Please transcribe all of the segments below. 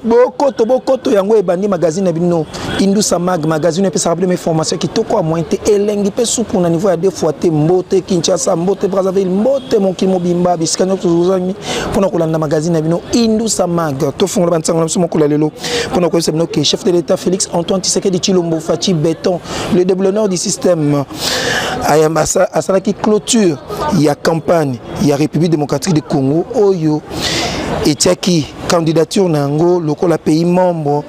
bokoto bokoto yango ebandi magazine na bino indusa mag magazine epesaka bino information kitoko ya moyen te elengi mpe supu na niveau ya deux fois te mbote kinshasa mbote brazzaville mbote mokili mobimba bisika nyonso tozozangi mpona kolanda magazine na bino indusa mag tofungola bansango na biso mokolo ya lelo mpona koyebisa bino ke chef de l'état félix antoine tshisekedi tshilombo faci beton le déblonneur du système asalaki clôture ya campagne ya République démocratique du Congo oyo etiaki candidature na yango lokola pays membre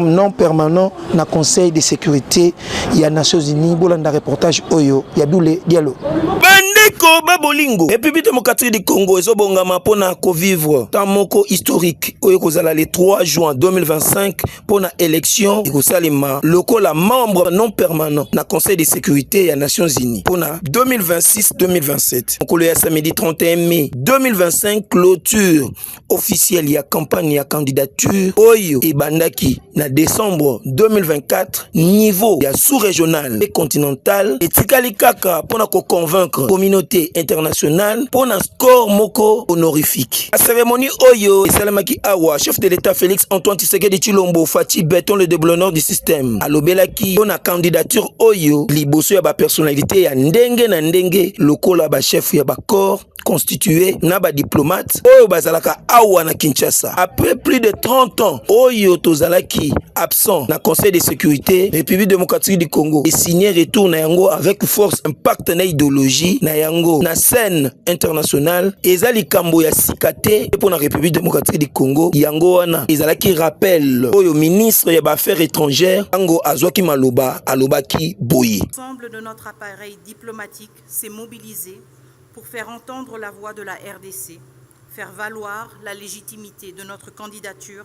non permanent na conseil de sécurité ya nations unies bolanda reportage oyo ya bule dialo bandeko babolingo république démocratique du congo ezobongama mpo na kovivre temps moko historique oyo ekozala le 3 juin 2025 mpo na election ekosalema lokola membre non permanent na conseil de sécurité ya nations unies mpo na 2026-2027 mokolo ya samedi 31 mai 2025 clôture officielle ya campagne ya candidature oyo ebandaki na décembre 2024 niveau ya sous-régional et continental etikali kaka mpo na koconvaincre communauté internationale mpo na corps moko honorifique. La cérémonie Oyo esalemaki awa chef de l'État Félix Antoine Tshisekedi Chilombo Fatshi Beton le déblonneur du système alobelaki mpo na candidature oyo liboso ya ba personnalité ya ndenge na ndenge lokola ba chef ya ba corps constitué na ba diplomate oyo bazalaka awa na Kinshasa après plus de 30 ans oyo tozalaki son na conseil de sécurité république démocratique du congo esigne retour na yango avec force impact na idéologie na yango na scène internationale eza likambo ya sika te mpo na république démocratique du congo yango wana ezalaki rappel oyo ministre ya baaffaires étrangères ntango azwaki maloba alobaki boye L'ensemble de notre appareil diplomatique s'est mobilisé pour faire entendre la voix de la RDC, faire valoir la légitimité de notre candidature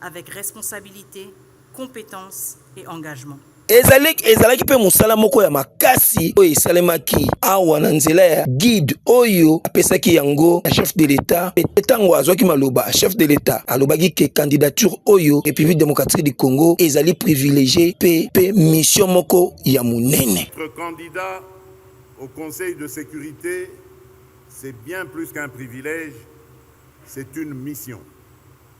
avec responsabilite, competence et engagement. ezali ezalaki mpe mosala moko ya makasi oyo esalemaki awa na nzela ya guide oyo apesaki yango na chef de l'etat mpe ntango azwaki maloba chef de l'etat alobaki ke candidature oyo république démocratique du congo ezali privilégié mpe mpe mission moko ya monene candidat au conseil de sécurité c'est bien plus qu'un privilège c'est une mission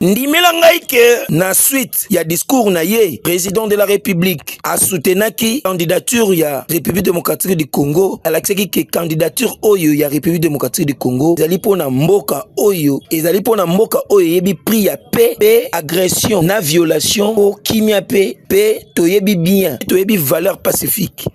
Ndimela ngai ke na suite ya discours na ye, president de la Republique a soutenaki candidature ya République démocratique du Congo, alakisaki ke candidature oyo ya République démocratique du Congo ezali pona mboka oyo ezali pona mboka oyo eyebi prix ya paix pe agression na violation po kimia pe pe toyebi bien toyebi valeur pacifique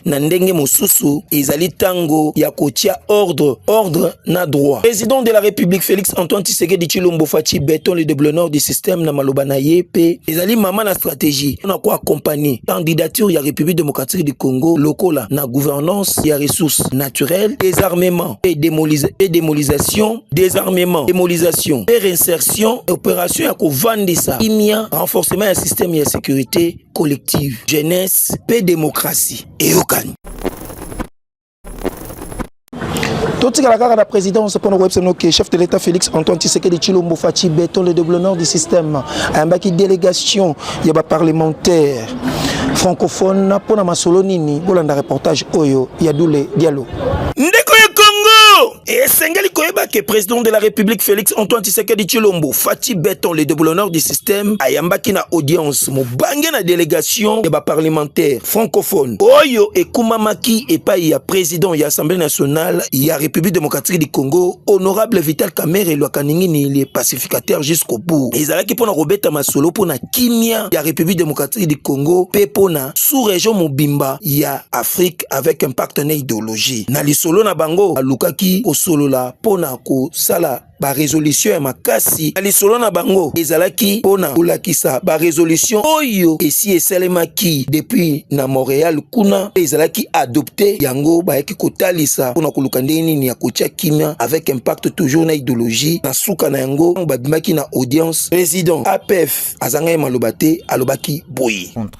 na ndenge mosusu ezali tango ya kotia ordre ordre na droit président de la république félix antoine tshisekedi tshilombo faci beton le deblonor du système na maloba na ye mpe ezali mama na stratégie mpona koaccompagne candidature ya république démocratique du congo lokola na gouvernance ya ressources naturelles désarmement et, démolisa et démolisation désarmement démolisation et réinsertion opération ya kovandisa kimia renforcement ya système ya sécurité collective jeunesse mpe demokrasi eyokani totikala kaka na présidence mpo na koyebisa bino ke chef de l'état félix antoine tshisekedi tshilombo faci beton le déblonneur du système ayambaki délégation ya baparlementaire francophone mpo na masolo nini bolanda reportage oyo ya dule dialo ndeko ya congo esengeli koyeba ke president de la république félix antoine tshisekedi tshilombo fati beton le deboulonneur du système ayambaki na audience mobange na délégation ya baparlementaire francophone oyo ekumamaki epai ya président ya assemblée nationale ya république démocratique du congo honorable vital kamere lwakaningini le pacificateur jusqu'au bout ezalaki mpo na kobeta masolo mpo na kimia ya république démocratique du congo mpe mpo na sous-région mobimba ya afrique avec impact na ideologie na lisolo na bango alukaki kosolola mpo na kosala baresolution ya makasi na lisolo na bango ezalaki mpo na kolakisa baresolution oyo esi esalemaki depuis na montréal kuna mpe ezalaki adopte yango bayaki kotalisa mpo na koluka ndenge nini ya kotya kimia avec impact toujours na ideologie na suka na yango ntango babimaki na audience président apf azangaki maloba te alobaki boye contre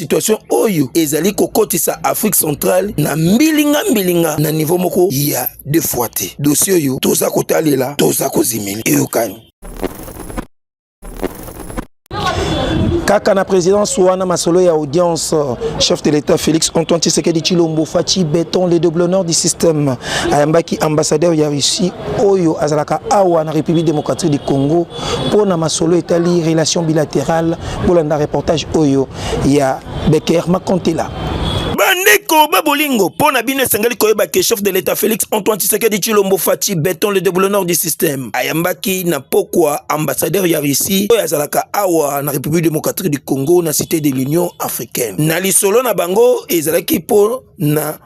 situation oyo ezali kokotisa afrique centrale na mbilinga mbilinga na niveau moko ya deux fois te dossier oyo toza kotalela toza kozimeli eyokani kaka na présidence wana masolo ya audience chef de l'état félix antoine tshisekedi tshilombo faci beton le doblonor du système ayambaki ambassadeur ya russie oyo azalaka awa na république démocratique du congo mpo na masolo etali relation bilatérale bolanda reportage oyo ya beker makontela bandeko ba bolingo mpo na bino esengeli koyeba ke chef de l'état félix antoine tshisekedi tshilombo faci beton le deboulonneur du système ayambaki na pokwa ambassadeur ya russie oyo azalaka awa na république démocratique du congo na cité de l'union africaine na lisolo na bango ezalaki mpo na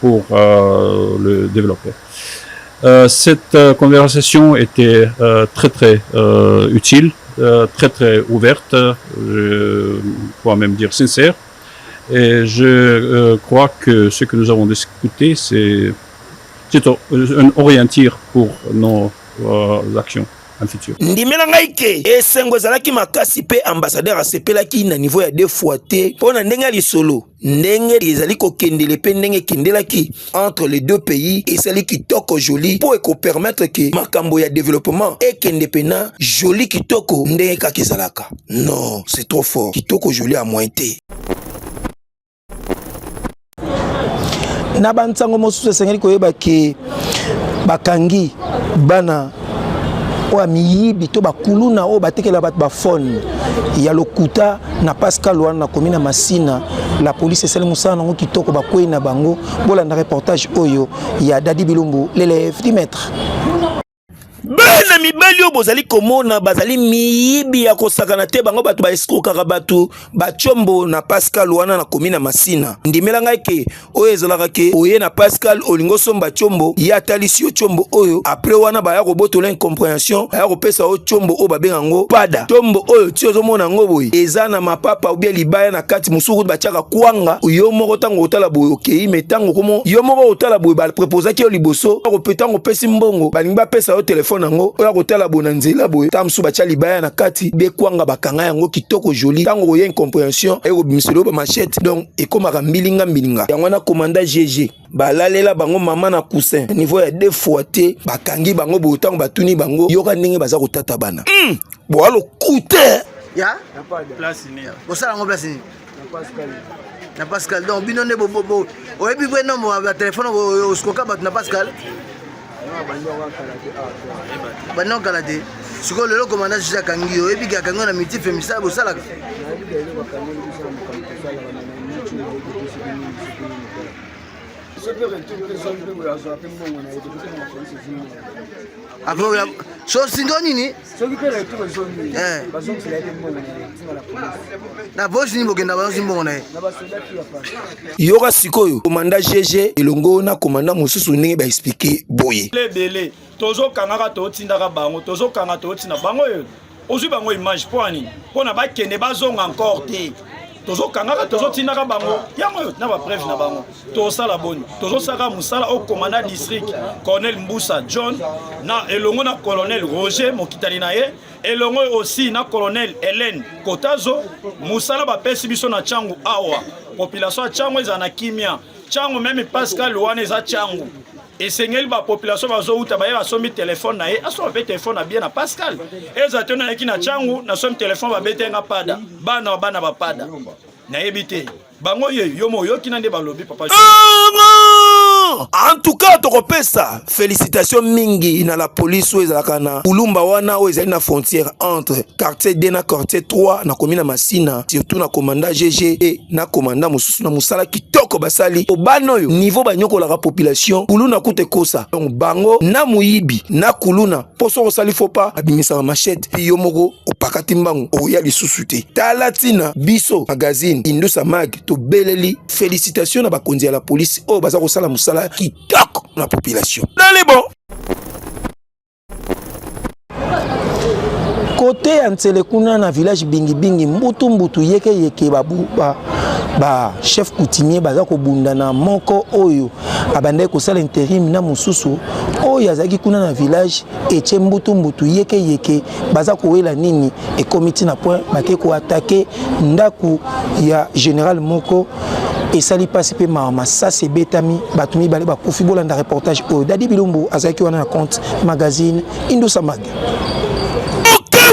pour euh, le développer. Euh, cette euh, conversation était euh, très très euh, utile, euh, très très ouverte, je pourrais même dire sincère. Et je euh, crois que ce que nous avons discuté, c'est un orientir pour nos euh, actions. futur ndimela ngai ke esengo ezalaki makasi mpe ambassadeur asepelaki na niveau ya deux fois te mpo na ndenge ya lisolo ndenge ezali kokendele mpe ndenge ekendelaki entre les deux pays esali kitoko joli mpo ekopermettre ke makambo ya developpement ekende mpena joli kitoko ndenge kaka ezalaka non c'est trop fort kitoko joli ya moyen te na bansango mosusu esengeli koyeba ke bakangi bana oyo miyibi to bakuluna oyo batekela bato bafone ya lokuta na pascal wana nakomi na masina la polise esali mosala nango kitoko bakwei na bango bolanda reportage oyo ya dadi bilumbu lelef di maître bana mibali oyo bozali komona bazali miyibi ya kosakana te bango bato baeskrokaka bato bacombo na pascal wana nakomi na masina ndimela ngai ke oyo ezalaka ke oye na pascal olingi osomba combo ye atalisi yo combo oyo apres wana baya kobotola incomprehension aya kopesa yo combo oyo babenga yango pada combo oyo ti ozomona yango boye eza na mapapa obia libaya na kati mosusu kutu batiaka kwanga yo moko ntango otala boye okei me ntango komo yo moko otala boye baprepozaki yo liboso ntango opesi mbongo balingi bapesa yo telefone yango oya kotala boye na nzela boye ntango mosusu batya libaya na kati bekwanga bakanga yango kitoko joli ntango okoya incomprehension ekobimisa eloko bamachete donc ekomaka mbilinga mbilinga yango wana komanda gg balalela bango mama na cousin na niveau ya deux fois te bakangi bango boye ntango batuni bango yoka ndenge baza kotata bana mm. boa lokute ya bosala yango place nini na pascal donc bino nde oyebi bwe nombo ya telefone oskoka bato na pascal banda okala te sikoyo lelo komanda juge akangi yo oyebi ke akangi yo na multiple misala bosalaka akoki sosinto nini soki mpe retour ezongi eh. bazongisela ye mbongo na poche nini bokenda bazongisi mbongo na ye yoka sikoyo komanda gg elongo na komanda mosusu ndenge baexplike boye ebele tozokangaka totindaka bango tozokanga totina bango oyo ozwi bango image mpo ani mpo na bakende bazonga encore te tozokangaka tozotindaka bango yango oyo na bapreve na bango tosala boni tozosalaka mosala oyo komanda district colonel mbusa john na elongo na colonel roger mokitani na ye elongo osi na colonel helene kotazo mosala bapesi biso na ntango awa population ya ntango ezala na kimia ntango meme pascal wana eza ntango esengeli bapopulation bazowuta baye basombi telefone na ye asomba mpe telefone na bie na pascal eza te nayaki na ntango nasombi telefone babete nga pada bana bana bapada nayebi te bango ye yo mo oyoki na nde balobi papa en tout cas tokopesa félicitation mingi na la police oyo ezalaka na kulumba wana oyo ezali na frontière entre quartier 2 na quartier 3 na komi na masina surtout na commanda gg e na commanda mosusu na mosala kitoko basali po bana oyo niveau banyokolaka population kuluna kuta ekosa donc bango na moyibi na kuluna mpo soki osali fopa abimisaka machete mpe yo moko opakati mbangu okoya lisusu te tala ntina biso magazine indusa mag tobeleli felicitation na bakonzi ya la polisi oyo baza kosala mosala kitoko na population nali bon kote ya nsele kuna na village bingibingi mbutu mbutu yeke yeke babu ba, ba chef coutumier baza kobunda na moko oyo abandaki kosala interim na mosusu oyo azalaki kuna na village etie mbutu mbutu yeke yeke baza kowela nini ekomi ntina point bake koatake ndako ya général moko esali mpasi mpe mawa masasi ebetami bato mibale bakufi bolanda reportage oyo dadi bilumbu azalaki wana na compte magazine indusa mag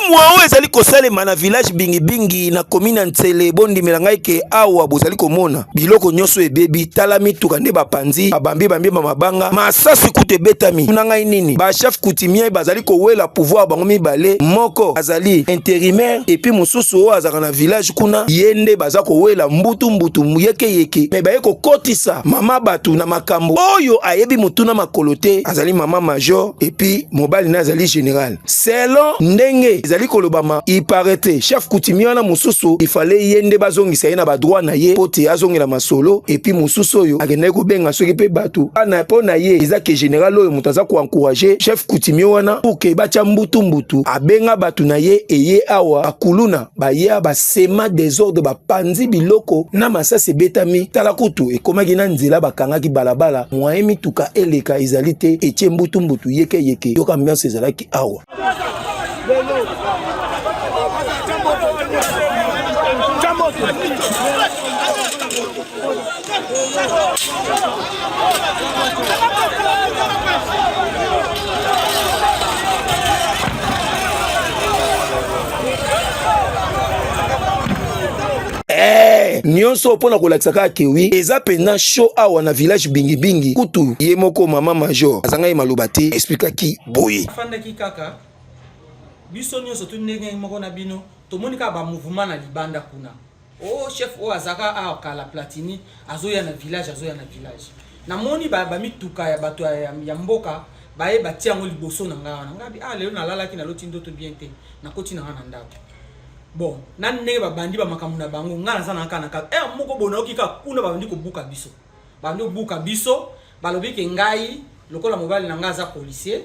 mwa oyo ezali kosalema na village bingibingi na komine ya nsele bondimela ngai ke awa bozali komona biloko nyonso ebebi tala mituka nde bapanzi babambi bambi ba mabanga masasi kutu ebetami tuna ngai nini bachef coutumier bazali kowela pouvoir bango mibale moko azali intérimaire epuis mosusu oyo azalaka na village kuna ye nde baza kowela mbutu mbutu yekeyeke me baye kokotisa mama bato na makambo oyo ayebi motuna makolo te azali mama major epuis mobali na azali general selon ndenge ezali kolobama iparete chef kutimi wana mosusu ifale ye nde bazongisa ye na badroit na ye mpo te azongela masolo epuis mosusu oyo akendaki kobenga soki mpe bato ana mpo na ye eza ke general oyo moto aza koencourage chef kutimi wana pour ke batya mbutu mbutu abenga bato na ye eye awa akuluna baya basema desordre bapanzi biloko na masasi ebetami tala kutu ekomaki na nzela bakangaki balabala mwaye mituka eleka ezali te etie mbutumbutu yekeyeke yoka ambiance ezalaki awa nyonso mpo na kolakisa kaka kewi eza mpenza show awa na village bingibingi kutu ye moko mama major azangaki maloba te explikaki boye afandaki kaka biso nyonso tu ndenge moko na bino tomoni kaka bamouvement na libanda kuna Oh chef oyo azaka awa kala Platini azoya na village azoya na village. Namoni ba ba mituka ya bato ya, ya mboka baye batia yango liboso na ngai wana ngai ah lelo nalalaki naloti ndoto bien te nakoti na ngai na ndako bon na ndenge babandi bamakambo na bango ngai naza na kaka na kaka heure moko bonayoki kaka kuna babandi kobuka biso bandi obuka biso balobi ke ngai lokola mobali na ngai aza policier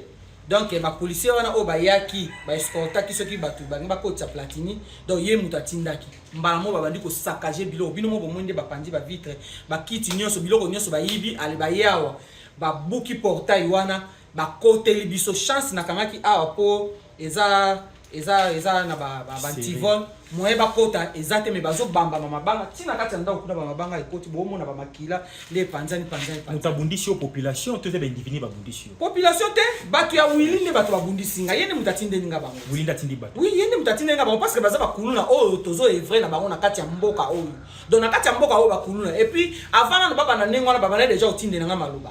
donc ba policier wana oyo bayaki ba escortaki soki bato bangi bakotisa platini donc ye moto atindaki mbala moko babandi kosakage biloko bino moko bomoni nde bapanzi bavitre bakiti nyonso biloko nyonso bayibi ale baye awa babuki portail wana bakoteli biso chance nakangaki awa mpo eza eza eza na ba ba, ba antivol moyen bakota eza te me bazobamba na mabanga ntina kati ya ndako kuna bamabanga ekoti boomona bamakila nde epanzani panzani moto abundisi yo population to eza baindividi babundisi yo population te bato ya wili nde bato babundisi ngai ye nde moto atindeli nga bango wili nde atindi bato wi ye nde moto atindeli nga bango parceke baza bakuluna oyo tozo evre na bango na kati ya mboka oyo donc na kati ya mboka oyo bakuluna epuis avant nano babanda ndenge wana babanda deja kotindela nga maloba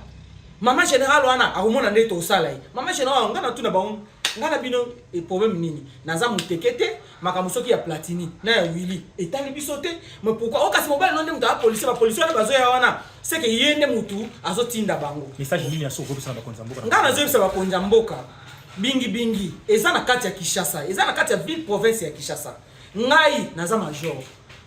Maman general wana akomona nde tosala ye. Maman general nga na tuna bango nga na bino e problème nini? Naza muteke te makambo soki ya Platini na ya Willy etali biso te. Mais pourquoi okasi oh, mobali no nde mutu a policier ba policier wana bazoya wana c'est que ye nde mutu azotinda bango. Message nini ya soko bisa ba konza mboka? Nga nazoyebisa ba konza mboka bingi bingi eza na kati ya Kinshasa, eza na kati ya ville province ya Kinshasa. ngai naza major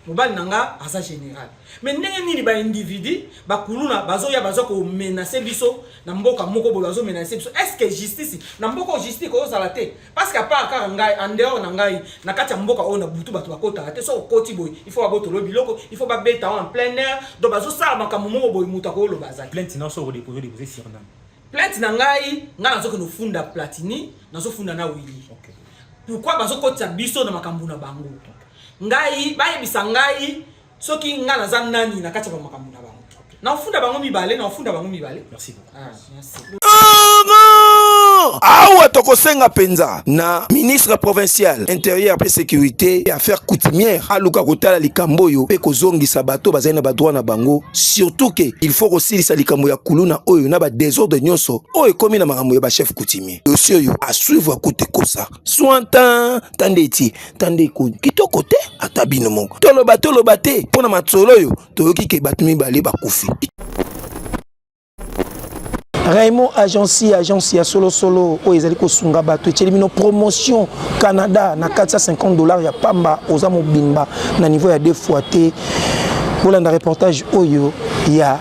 mobali na nga aza général me ndenge nini baindividu bakuluna bazoya baza komenase biso na mboka moko boye bazomenase biso estce justice na mboka oyo justice kozala te parceke apart kaka ngai andehors na ngai na kati ya mboka oyo na butu bato bakotaka te soki okoti boye il faut babotolo biloko il faut babeta en plein air donc bazosala makambo moko boye moto akoyoloba azali plainte na soko dekozo dekoze sirnam plainte na ngai ngai nazokende ofunda platini nazofunda na wili okay. pourquoi bazokotisa biso na makambo na bango ngai bayebisa ngai soki ngai naza nani na kati ya bamakambo na bango naofunda bango mibale naofunda bango mibale merci beaucoup ah, merci. awa tokosenga mpenza na ministre provincial interieur mpe sécurité ya affaire coutumière aluka kotala likambo oyo mpe kozongisa bato bazali na badroit na bango surtout ke il faut kosilisa likambo ya kuluna oyo na badesordre nyonso oyo ekomi na makambo ya bachef coutumier dossier oyo a suivre akute kosa sointan tande etie tande ekoni kitoko te ata bino moko toloba toloba te mpo na masolo oyo toyoki ke bato mibale bakufi raymond agence agence ya solosolo oyo ezali kosunga bato etyeli bino promotion canada na 450 dollars ya pamba oza mobimba na niveau ya deux fois te bolanda reportage oyo ya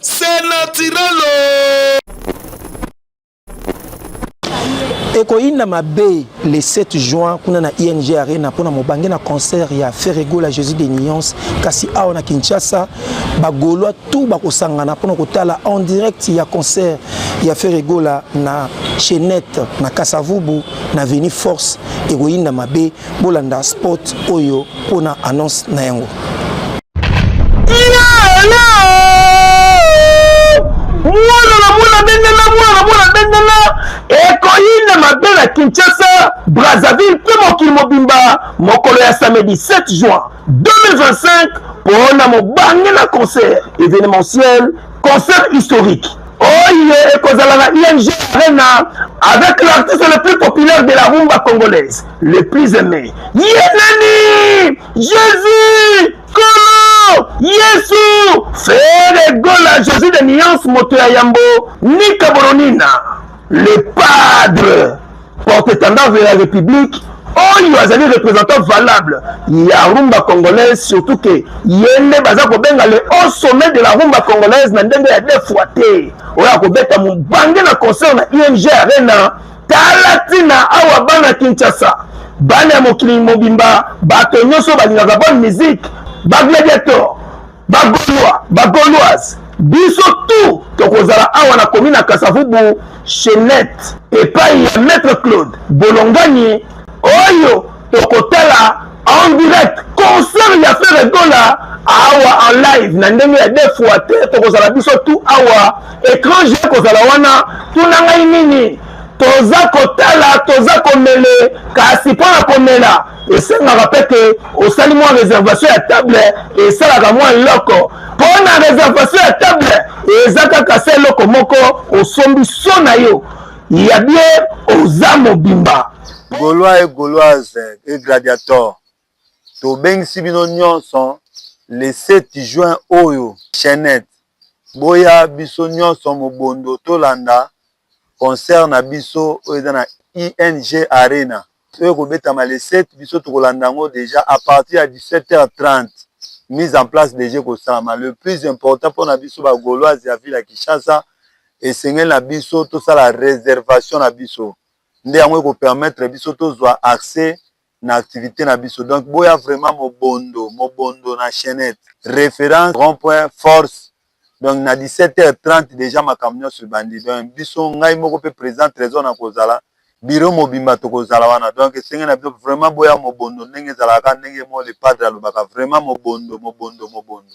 C'est naturel. ekoyinda mabe le 7 juin kuna na ing arena mpona mobange na concert ya ferregola jésus de nuance kasi awa na kinshasa bagolois tout bakosangana mpona kotala en direct ya concert ya ferregola na chenette na kasavubu na veni force ekoyinda mabe Bolanda spot oyo pona annonce na yango. Mwana na mwana bendana, mwana na mwana bendana, ekoyina mabe na Kinshasa, Brazzaville mpe mokili mobimba mokolo ya samedi 7 juin 2025 mpo na mobange na concert événementiel concert historique oyo ekozala na ing arena avec l'artiste le plus populaire de la rumba congolaise le plus aimé ye nani jésus kolo yesu fere gola jésus de nuance moto ya yambo nika bolonina le padre Porte-etendard de la Republique oyo azali représentant valable ya rumba congolaise surtout ke ye nde baza kobenga le haut sommet de la rumba congolaise na ndenge ya deux fois te oyo akobeta mobange na concert na ing arena tala ntina awa bana kinshasa bana ya mokili mobimba bato nyonso balingaka bonne musique bagladiator bagolois bagoloise biso tout tokozala awa na komi na kasavubu chenette epai ya maître claude bolongani oyo tokotala en direct concert ya fere gola awa en live na ndenge ya deux fois te tokozala biso tout awa étranger ekozala wana tuna ngai nini toza kotala toza komele kasi mpo na komela esengaka mpe ke osali mwa reservation ya table esalaka mwa eloko mpo na reservation ya table eza kaka se eloko moko osombi so na yo ya bie oza mobimba golois e goloise e gladiator tobengisi bino nyonso le 7 juin oyo chenette boya biso nyonso mobondo tolanda concert na biso oyo eza na ING arena oyo ekobetama le 7 biso tokolanda yango deja à partir ya 17h30 mise en place deja ekosalama le plus important mpo na biso ba gauloise ya ville ya Kinshasa esengeli na biso tosala reservation na biso nde yango ekopermettre biso tozwa accès na activite na biso donc boya vraiment mobondo mobondo na chainette reference rond point force donc na 17 heures 30 deja makambo nyonso ebandi donc biso ngai moko mpe président trésor na kozala biro mobimba tokozala wana donc esenge na biso vraiment boya mobondo ndenge ezalaka ndenge mo le padre alobaka vraiment mobondo mobondo mobondo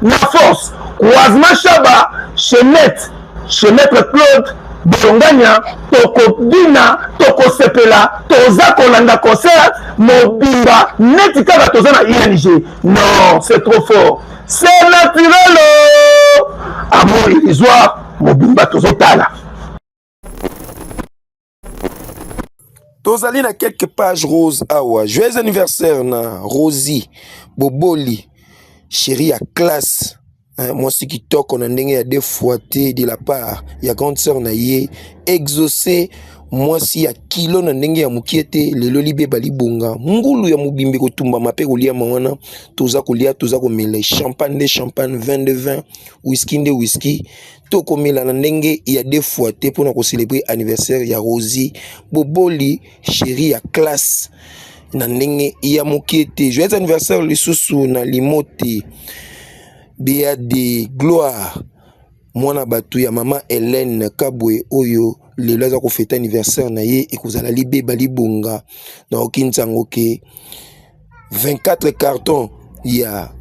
na force croisement shaba chez net chez maître claude bolongania tokobina tokosepela toza kolanda concert mobimba neti kaka toza na ing non c'est trop fort c'est naturel amour illusoire mobimba tozotala tozali na quelque page rose awa joyeux anniversaire na rosi boboli chéri ya classe eh, mwasi kitoko na ndenge ya defuate de la part ya grande sœur na ye exauce mwasi ya kilo na ndenge ya mokie te lelo libeba libonga ngulu ya mobimbi kotumbama mpe koliama wana toza kolia toza komela champagne nde champagne 22 20 whisky nde whisky tokomela na ndenge ya deux fois te mpo na kocelebre anniversaire ya rosi boboli sheri ya classe na ndenge ya mokie te joyeux anniversaire lisusu na limo te bea de gloire mwana bato ya mama helene kabwe oyo lelo aza kofete anniversaire na ye ekozala libeba libonga naoki nsango ke 24 carton ya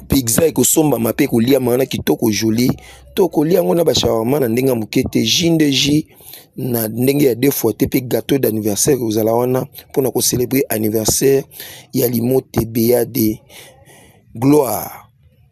pizza ekosombama mpe ekoliama wana kitoko joli to kolia yango na bashawarma na ndenge ya moke te jus nde jus na ndenge ya deux fois te mpe gâteau d'anniversaire ekozala wana mpo na kocelebre anniversaire ya limote beade gloire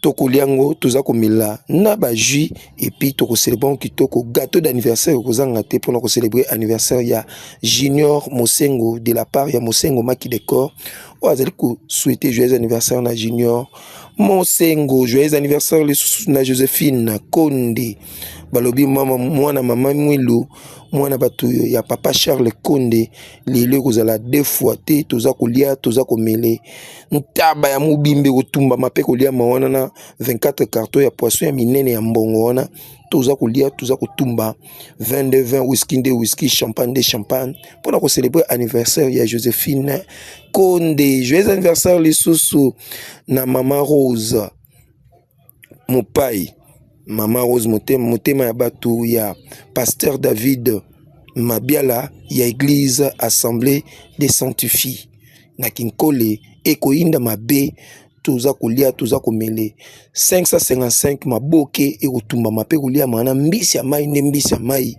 tokolia ngo toza komela na ba jus et puis toko célébrer ngo kitoko gâteau d'anniversaire kozanga te pona ko célébrer anniversaire ya Junior Mosengo de la part ya Mosengo Maki Decor oyo azali ko souhaiter joyeux anniversaire na Junior Mosengo joyeux anniversaire lisusu na Josephine Konde balobi mama mwana mama Mwilu mwana bato ya papa Charles Konde lelo ekozala deux fois te toza kolia toza komele ntaba ya mobimba ekotumbama mpe koliama wana na 24 carton ya poisson ya minene ya mbongo wana toza kolia toza kotumba 22 20 whisky nde whisky champagne nde champagne mpo na kocelebre anniversaire ya josephine konde joyeux anniversaire lisusu na mama rose mopayi mama rose motema ya bato ya pasteur david mabiala ya eglise assemblée de sanctifie na kinkole ekoyinda mabe toza kolia toza komele 555 maboke ekotumbama mpe koliama na mbisi ya mai nde mbisi ya mai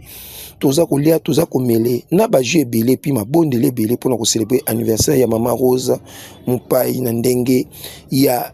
toza kolia toza komele na baju ebele mpe mabondeli ebele mpona koselebre anniversaire ya mama rose mopai na ndenge ya